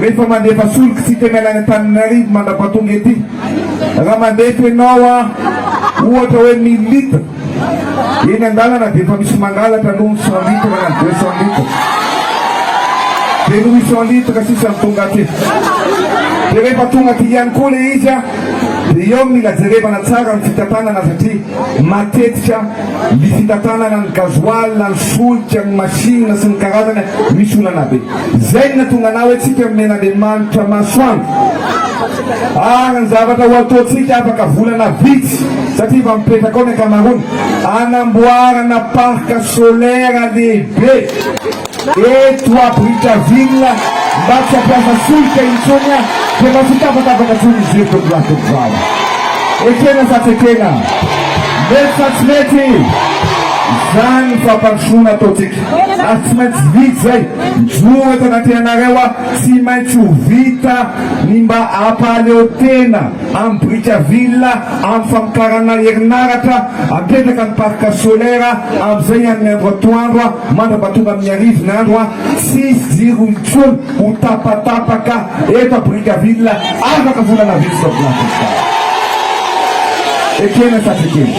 Rehefa mandefa solika tsy tena ilaina Antananarivo mandrapatonga ety, raha mandefa ianao ohatra hoe mille litres, eny an-dalana dia efa misy mangalatra aloha ny cent litres na ny deux cent litres, dia ny huit cent litres sisa no tonga aty. Dia rehefa tonga aty ihany koa ilay izy dia eo no mila jerevana tsara ny fitantanana satria matetika ny fitantanana ny gasoil, ny solika, ny machine sy ny karazany misy olana be. Izay no nahatonga anah hoe tsika nomena Andriamanitra masoandro ary ny zavatra ho ataontsika afaka volana vitsy satria efa mipetraka ao ny ankamaroany hanamboarana parc solaire lehibe eto à Brickaville mba tsy hampiasa solika intsony ah dia mba tsy tapatapaka intsony ny jiro tompolahy tovovavy ekena sa tsy ekena mety sa tsy mety izany fampandrosoana ataontsika Ary tsy maintsy vita izay. Mijoro eto anatrehanareo aho, tsy maintsy ho vita ny mba hampahaleo tena amin'i Brickaville amin'ny famokarana herinaratra apetraka ny parc solaire amin'izay ny an'ny andro atoandro mandrapa tonga amin'ny arivony andro tsisy jiro intsony ho tapatapaka eto à Brickaville afaka volana vitsy izao Blanchester. Ekena sa tsy ekena?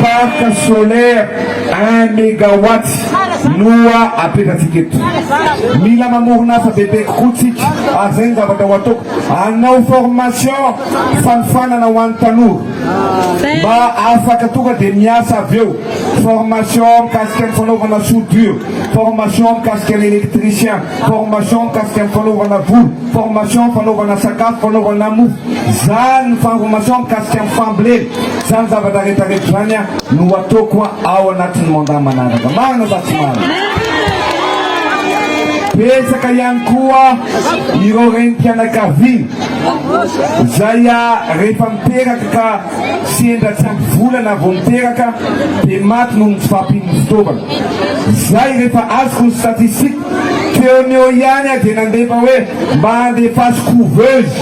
Parc solaire Un megawatts no apetratsika eto. Mila mamorona asa bebe kokoa tsika ary zay ny zavatra ho ataoko. Hanao formation fanofanana ho an'ny tanora mba afaka tonga dia miasa avy eo. Formation mikasika ny fanaovana soudure, formation mikasika ny electricien, formation mikasika ny fanaovana volo, formation fanaovana sakafo, fanaovana mofo. Zany ny formation mikasika ny fambolena. Izany zavatra rehetra rehetra izany no hataoko ao anatin'ny mandat manaraka. Marina sa tsy marina? Betsaka ihany koa ireo renim-pianakaviana izay rehefa miteraka ka sendra tsy ampy volana vao miteraka dia maty noho ny tsy fahampian'ny fitaovana. Izay rehefa azoko ny statistique teo ny eo ihany dia nandefa hoe mba andefaso couveuse,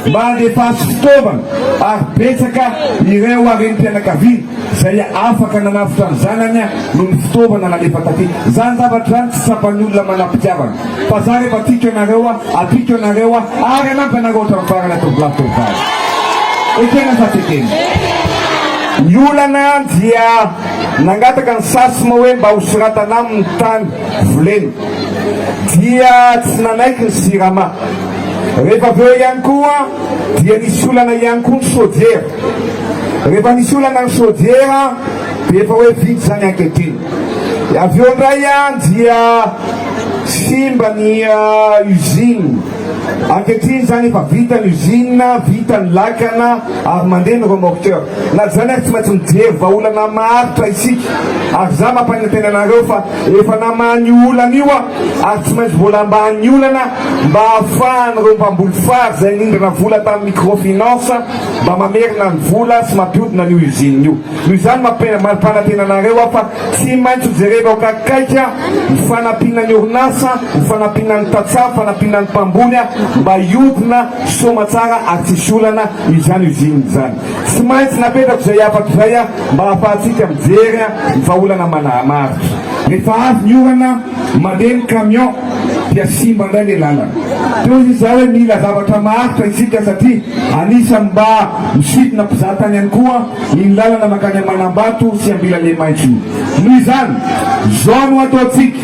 mba andefaso fitaovana. ary betsaka ireo renim-pianakaviana izay afaka nanavotra ny zanany noho ny fitaovana nalefa taty. Izany zavatra izany tsy tsapan'ny olona manam-pitiavana fa za rehefa tiako ianareo aho, tiako ianareo aho ary hanampy anareo hatramin'ny farany tovolahy tovovavy. Ekena sa tsy ekena? Ny olana dia nangataka ny SACEM hoe mba hosoratana aminy ny tany volena dia tsy nanaiky ny Sirama. Rehefa avy eo ihany koa dia nisy olana ihany koa ny chaudière. Rehefa nisy olana ny chaudière dia efa hoe vita izany ankehitriny. Avy eo indray dia simba ny usine. Ankehitriny izany efa vita ny usine, vita ny lakana ary mandeha ny remorqueur. Na izany ary tsy maintsy mijery vahaolana maharitra isika ary izaho mampanantena anareo fa Efa namaha an'io olana io aho ary tsy maintsy vola ambanin'ny olana mba hahafahan'ireo mpamboly fary izay nindrana vola tamin'ny microfinance mba mamerina ny vola sy mampiodina an'io usine io. Noho izany mampipanatena anareo aho fa tsy maintsy ho jerenao akaikaika ny fanampiana ny orinasa, ny fanampiana ny tantsaha, ny fanampiana ny mpamboly mba hiodina soamatsara ary tsisy olana izany usine izany. Tsy maintsy napetrako izay hafatra izay mba hahafahantsika mijery ny vahaolana manamaritra. Rehefa avy ny orana, mandeha ny camion dia simba indray ilay lalana. Teo izy izay hoe mila zavatra maharitra isika satria anisan'ny mba misidina mpizahatany ihany koa iny lalana mankany Amanambato sy Ambilalemaitso iny. Noho izany, izao no ataontsika,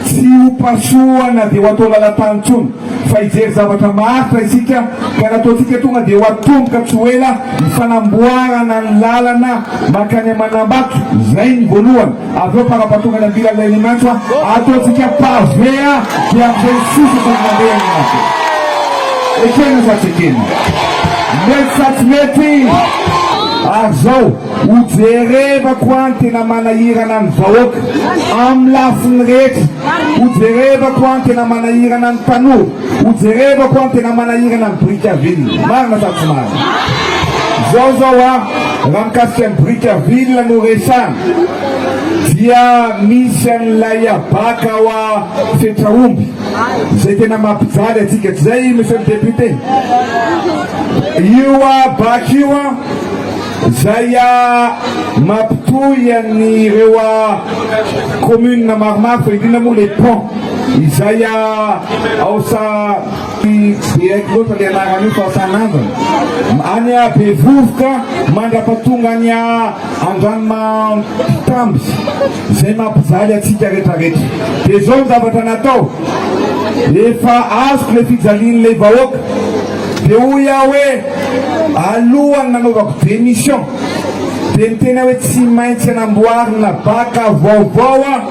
tsy ho pasohana dia ho atao lalan-tany intsony. fa hijery zavatra maharitra isika ka ny ataontsika tonga dia ho atomboka tsy ho ela ny fanamboarana ny lalana mankany Manambato, izay ny voalohany, avy eo fanampatongany Ambila Lelimaitso ataontsika pavé dia amin'izay sosaka ny mandeha ny maso. Ekena sa tsy ekena? Mety sa tsy mety? Ary izao. Hojerevako an tena manahirana ny vahoaka amin'ny lafiny rehetra, hojerevako an tena manahirana ny tanora, hojerevako an tena manahirana ny biriky à ville. Marina sa tsy marina? Zao zao an, raha mikasika ny biriky à ville no resahana dia misy an'ilay habaka ao a fetra omby izay tena mampijaly antsika, tsy izay monsieur le député? Io habaka io an. Zay ah mapitohy an ireo ah commune maromaro fa indrindra moa le pont izay ah ao sa tsy de haiko loatra le anarany io fa tanànana any ah bevovoka mandrapatonga any ah andranomampitamby zay mampijaly atsika retraretra de zao ny zavatra natao efa azoko le fijalian'ilay vahoaka de hoy ah hoe Alohan'ny nanaovako démission dia niteny aho hoe tsy maintsy hanamboarina bac vaovao aho.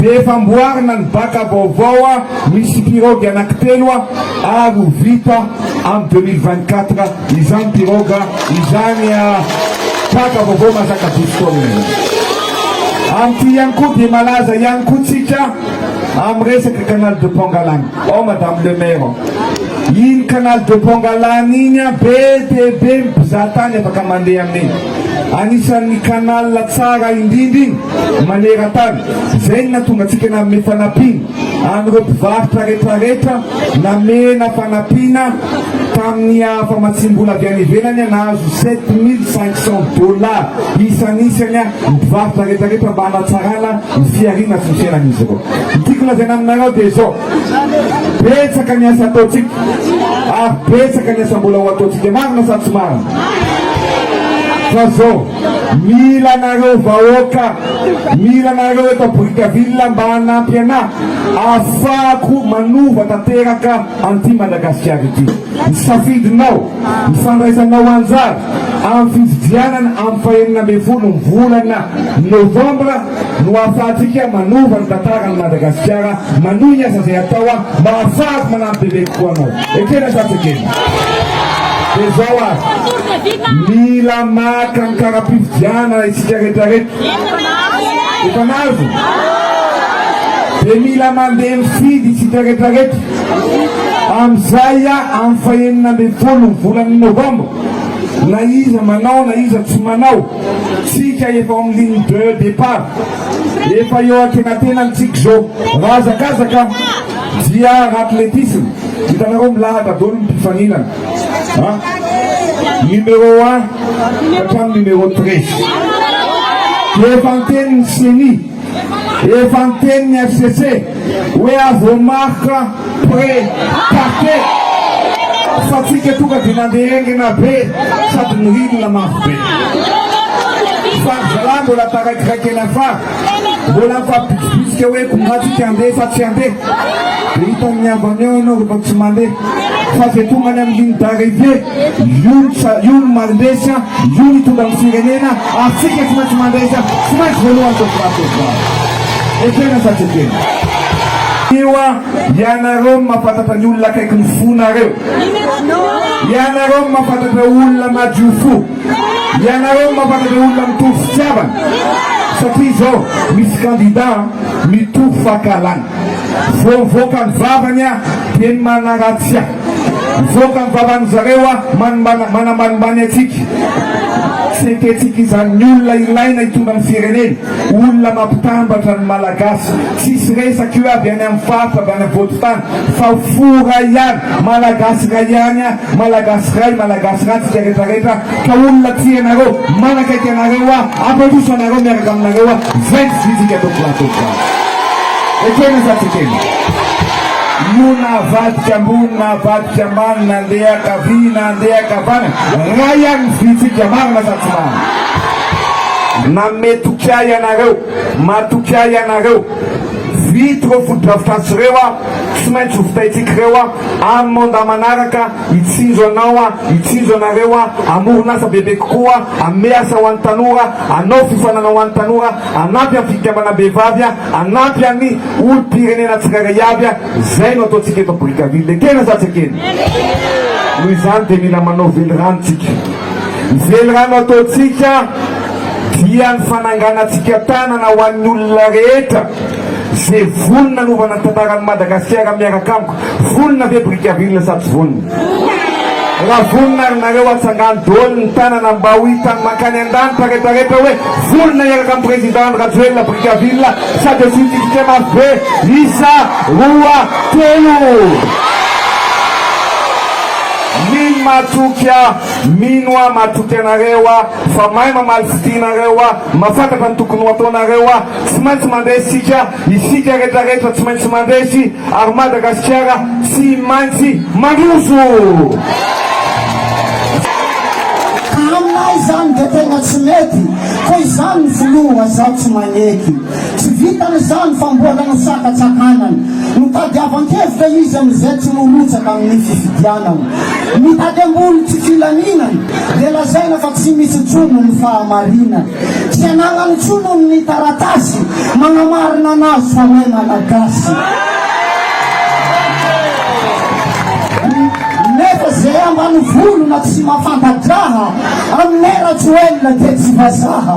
Dia efa amboarina ny bac vaovao aho, misy pirogue anankitelo aho ary ho vita amin'ny deux mille vingt quatre izany pirogue izany bac vaovao mahazaka douze tonnes izany. Amin'ity ihany koa dia malaza ihany koa tsika amin'ny resaka canal de Pangalana. Ao madame le maire, iny canal de Pongalany iny an be dia be ny mpizahatany afaka mandeha amin'iny. Anisan'ny canal tsara indrindra iny maneran-tany. Izay no nahatonga antsika nanome fanampiana an'ireo mpivarotra rehetrarehetra, namena fanampiana tamin'ny famatsiam-bola avy any ivelany nahazo sept mille cinq cents dollars isan'isany. ny mpivarotra rehetra rehetra mba hanatsarana ny fihariana sy ny fiainan'izy ireo. Ny tiako lazaina aminareo dia izao, betsaka ny asa ataontsika ary betsaka ny asa mbola ho ataontsika, marina sa tsy marina? Fa zao, mila anareo vahoaka, mila anareo eto Brickaville mba hanampy anah afahako manova tanteraka an'ity Madagasikara ity. Ny safidinao Ny fandraisanao anjara amin'ny fifidianana amin'ny fahenina ambin'ny folo ny volana novambra no ahafahantsika manova ny tantaran'i Madagasikara. Manohy ny asa izay atao aho mba hahafahako manampy bebe kokoa anao. Ekena sa tsy ekena? Dia izao ary, mila maka ny kara-pifidianana isika rehetrarehetra. Efa nahazo? Dia mila mandeha mifidy isika rehetrarehetra. Amin'izay amin'ny fahenina ambin'ny folo ny volana novambra, na iza manao na iza tsy manao, tsika efa ao amin'ny ligne de départ, efa eo antenatenany tsika izao. Raha hazakazaka dia r'athlétisme, hitanareo milahatra daholo ny mpifaninana a, numéro un ka hatramin'ny numéro treize. Efa niteny ny ceni. Efa niteny ny FCC hoe azo marque près parquet fa tsika tonga dia nandeha engina be sady nirinina mafy be. Fa ry zalahy mbola taraikiraikena fa mbola mifampibitsibitsika hoe kombà tsika handeha fa tsy handeha. Dia hitan'ny havany ao ianao rehefa tsy mandeha fa izay tonga any amin'ny ligne d'arrivée Io ny tsara, io ny mandresy an, io ny hitondra ny firenena, Afrika tsy maintsy mandresy an, tsy maintsy voalohany zao vao azo zao. Ekena sa tsy ekena? Io an, ianareo no mahafantatra ny olona akaiky ny fonareo, ianareo no mahafantatra olona madio fo, ianareo no mahafantatra olona mitovy fitiavana, satria zao misy kandida an, mitovy fahakalana, vao mivoaka ny vavany an, dia ny manaratsy an. Mivoaka ny vavan'ny zareo a manimbana manambanimbany antsika. Tsy ekentsika izany ny olona ilaina hitondra ny firenena, olona mampitambatra ny malagasy. Tsisy resaka io avy any amin'ny faritra avy any afovoan-tany fa fo iray ihany, malagasy iray ihany a, malagasy iray, malagasy iray antsika retraretra ka olona tia anareo, manakaiky anareo a, hampandroso anareo miaraka aminareo a, izay ny vitsika tompolahy, tompolahy. Ekena sa tsy ekena? Io na avadika ambony na avadika ambany, na andeha ankavia na andeha ankavanana, iray ihany ny vitsika, marina sa tsy marina? Nanome toky ahy ianareo, matoky ahy ianareo, vita ireo fotodrafitrasa ireo an, tsy maintsy ho vitaintsika ireo an, amin'ny mandat manaraka, hitsinjo anao an, hitsinjo anareo an, hamorona asa bebe kokoa an, hanome asa ho an'ny tanora, hanao fifaninanana ho an'ny tanora, hanampy amin'ny fikambanam-behivavy an, hanampy an'ny olom-pirenena tsirairay avy a! Zay no ataontsika eto Brickaville, ekena sa tsy ekena? Noho izany dia mila manao velirano tsika. Ny velirano ataontsika dia ny fananganantsika tanana ho an'ny olona rehetra ze vonona hanaovana ny tantaran'i Madagasikara miaraka amiko. Vonona ve Brickaville sa tsy vonona? Raha vonona ary nareo atsangano doly ny tanana mba ho hitany mankany andanitra rehetra rehetra hoe vonona hiaraka amin'ny Président Andry Rajoelina Brickaville sa dia tsy hitsitsika mafy be isa roa telo mino matoky ah mino ah matoky anareo ah fa mahay mamaly fitia nareo ah mafantatra ny tokony ho ataonareo ah tsy maintsy mandeha isika Isika rehetra rehetra tsy maintsy mandresy ary Madagasikara tsy maintsy mandroso! Ka aminay izany dia tena tsy mety koa izany ny filoha zao tsy maneky. Tsy vitany izany fa mbola no sakatsakanany. Notadiavan-kevitra izy amin'izay tsy norotsaka amin'ny fifidianana. Mitady ambony tsy filaminana dia lazaina fa tsy misy jono ny fahamarinana. Tsy anarany intsony hono ny taratasy manamarina anazy fa hoe Malagasy. Nefa ze ambanivolo na tsy mafanta-draha aminay Rajoelina dia tsy vazaha.